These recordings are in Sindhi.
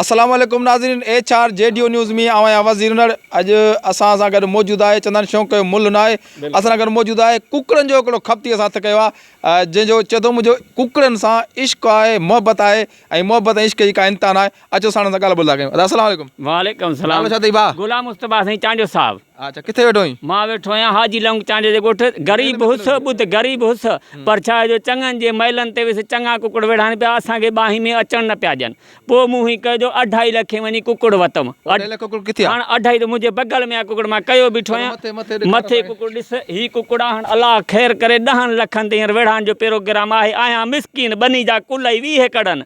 السلام عليڪم ناظرين H R G D news مي آء آهيان وزير نڙ اڄ اسان سان گڏ موجود آهي چندن شوق جو مل نه آهي اسان سان گڏ موجود آهي ڪڪڙن جو هڪڙو کپتي اسان هٿ ڪيو آهي جنهن جو چيو اٿو منهنجو ڪڪڙن سان عشق آهي محبت آهي ۽ محبت ۽ عشق جي ڪا انتها نه آهي اچو ساڻن سان ڳالهه ٻولهه ٿا ڪيون. ادا السلام عليڪم. وعليڪم السلام. نالو ڇا اٿئي ڀاء؟ غلام مصطفيٰ سائين چانڊيو صاحب. اچا ڪٿي ويٺو آهين؟ مان ويٺو آهيان حاجي لونگ چانڊيو جي ڳوٺ غريب هوس ٻڌ غريب هوس پر ڇا جو چڱن جي مئلن تي ويس چڱا ڪڪڙ ويڙها آهن پيا اسان کي ٻانهين ۾ اچڻ نه پيا ڏين پوء مون هيئن ڪيو جو اڍائي لکين وڃي ڪڪڙ وتم اڍائي لک ڪڪڙ ڪٿي آهي؟ هاڻ اڍائي ته منهنجي بغل ۾ آهي ڪڪڙ مان ڪيو بيٺو آهيان مٿي مٿي ڏيکار مٿي سائين. ڪڪڙ ڏس هي ڪڪڙ آهن الله خير ڪري ڏهن لکن تي هينئر ويڙهائڻ جو پروگرام آهي آهيان مسڪين ٻني جا ڪلهي ويهه ڪڙن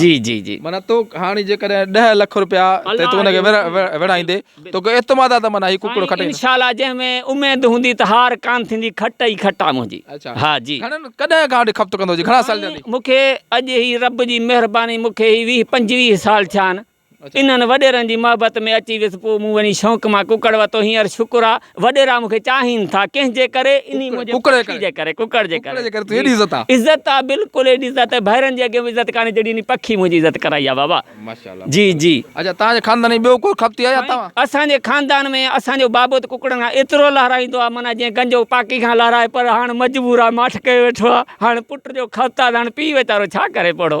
جي جي جي. معنيٰ تو هاڻي جيڪڏهن ڏهه لک روپيا تي تو ان کي وڙهائيندي توکي اعتماد آ ته معنيٰ هي ڪڪڙو کٽي سائين انشاءالله جنهن ۾ اميد هوندي ته هار ڪان ٿيندي کٽ ئي کٽ آ منهنجي اڇا ها جي گهڻن ڪڏهن کان وٺي کپت ڪندو جي گهڻا سال سائين ٿيا ٿي؟ مونکي اڄ هي رب جي مهرباني مونکي هي ويهه پنجويهه سال ٿيا آهن انهن وڏيرن جي محبت ۾ اچي ويس پوء مون وڃي شونق مان ڪڪڙ ورتو هينئر شڪر آ وڏيرا مون کي چاهين ٿا ڪنهن جي ڪري انهي منهنجي پکي جي ڪري ڪڪڙ جي ڪري جي عزت آ بلڪل ايڏي عزت آ ڀائرن جي اڳيان به عزت ڪانهي جيڏي انهي پکي منهنجي عزت ڪرائي آ بابا جي جي سائين اسان جي خاندان ۾ اسان جو بابو ته ڪڪڙن کان ايترو لهرائيندو آ معنيٰ جيئن گنجو پاڪي کان لهرائي پر هاڻ مجبور آ ماٺ ڪيو ويٺو آ هاڻ پٽ جو خط آ ته هاڻ پيء ويچارو ڇا ڪري پڙهو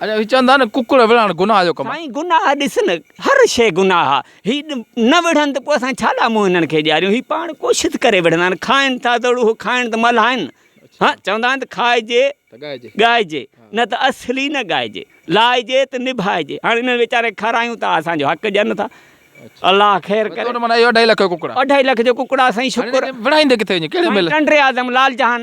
اڄ چون ٿا نه ڪڪڙ وڙهڻ گناهه جو ڪم آهي. سائين گناهه ڏس نه هر شيء گناهه آ هي نه وڙهن ته پوء اسان ڇا ڏا منهن هنن کي ڏياريون هي پاڻ ڪوشت ڪري وڙهندا آهن کائن ٿا ته اڙو هو کائڻ ته ملهائن ها چوندا آهن ته کائجي ته ڳائجي نه ته اصلي نه ڳائجي لائجي ته نڀائجي هاڻ انهن ويچارن کي کارايون ته اسان جو حق ڏين ٿا الله خير ڪري. اهو اڍائي لک جو ڪڪڙ آ. اڍائي لک جو ڪڪڙ آ سائين شڪر. هاڻي وڙهائيندي ڪٿي وڃي ڪهڙي ميل. سائين ٽنڊي اعظم لال جهان.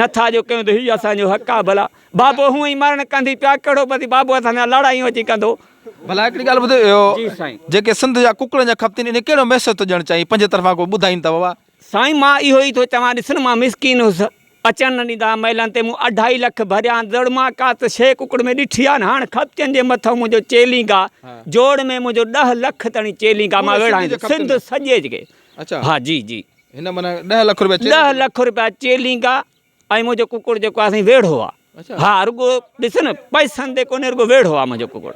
نه ٿا جو ڪيون ته هي اسان جو حق آ ڀلا بابو هونء ئي مرڻ ڪندي پيا ڪهڙو پتي بابو اسان سان لاڙايون اچي ڪندو. ڀلا هڪڙي ڳالهه ٻڌ اهو جي سائين. جيڪي سنڌ جا ڪڪڙن جا کپتين انهي ڪهڙو ميسج ٿو ڏيڻ چاهين پنهنجي طرفان ڪو ٻڌائين ته ووا. سائين مان اهو ئي ٿو چوان ڏسن مان مسڪين هوس اچڻ نه ڏيندا ها مئلن تي مون اڍائي لک ڀريا هان ضرور مان ڪا ته شيء ڪڪڙ ۾ ڏٺي آ نه هاڻ کپتين جي مٿئون منهنجو چيلينگ آ جوڙ ۾ منهنجو ڏهه لک تڻي چيلينگ آ مان ويڙهائيندس سنڌ سڄي جي اچا. ها جي جي. هن معنيٰ ڏهه لک روپيا چيلينگا ڏهه لک روپيا چيلينگا ۽ منهنجو ڪڪڙ جيڪو آهي سائين ويڙهو آهي اچا ها رڳو ڏس نه پئسن تي ڪونهي رڳو ويڙهو آهي منهنجو ڪڪڙ.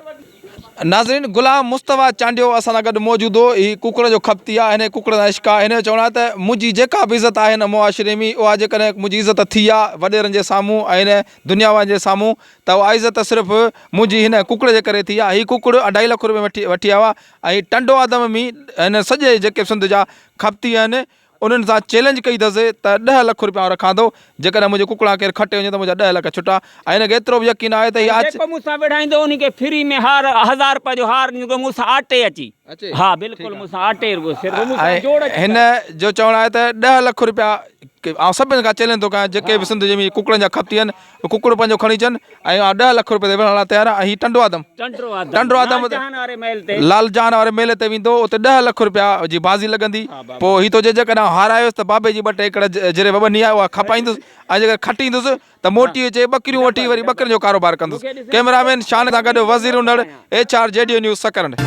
ناظرين غلام مصطفيٰ چانڊيو اسان سان گڏ موجود هو هي ڪڪڙ جو کپتي آهي هن کي ڪڪڙ سان عشق آهي هن جو چوڻ آهي ته منهنجي جيڪا به عزت آهي هن معاشري ۾ اها جيڪڏهن منهنجي عزت ٿي آهي وڏيرن جي سامهون ۽ هن دنيا وارن جي سامهون ته اها عزت صرف منهنجي هن ڪڪڙ جي ڪري ٿي آهي هي ڪڪڙ اڍائي لک روپيا ۾ وٺي وٺي آيو آهي ۽ ٽنڊو آدم ۾ هن سڄي جيڪي سنڌ جا کپتي آهن انهن سان چيلنج ڪئي اٿس ته ڏهه لک روپيا آئون رکان ٿو جيڪڏهن منهنجي ڪڪڙان ڪير کٽي وڃي ته منهنجا ڏهه لک ڇٽا ۽ هن کي ايترو به يقين آهي ته هي آچ جيڪو مون سان وڙهائيندو ان کي فري ۾ هار هزار روپيا جو هار ڏيندو مون سان آٽي اچي اچي ها بلڪل مون سان آٽي رڳو سر مون سان ۽ جوڙ اچي هن جو چوڻ آهي ته ڏهه لک روپيا آئون سڀني کان چيلنج ٿو ڪيان جيڪي به سنڌ جي ڪڪڙن جا کپتي آهن ته ڪڪڙ پنهنجو کڻي اچن ۽ آء ڏهه لک روپيه تي وڙهڻ لاء تيار آهيان ۽ هي ٽنڊو آدم ٽنڊو آدم لال جهان واري ميلي تي ويندو اتي ڏهه لک روپيا جي بازي لڳندي پوء هي ٿو چئي جيڪڏهن آء هارايس ته بابي جي ٻه ٽي ايڪڙ جري وٻني آهي اها کپائيندس ۽ جيڪڏهن کٽيندس ته موٽي اچي ٻڪريون وٺي وري ٻڪرين جو ڪاروبار ڪندس ڪئميرا مين شان سان گڏ Wazir Unar H R G D news Sakrand.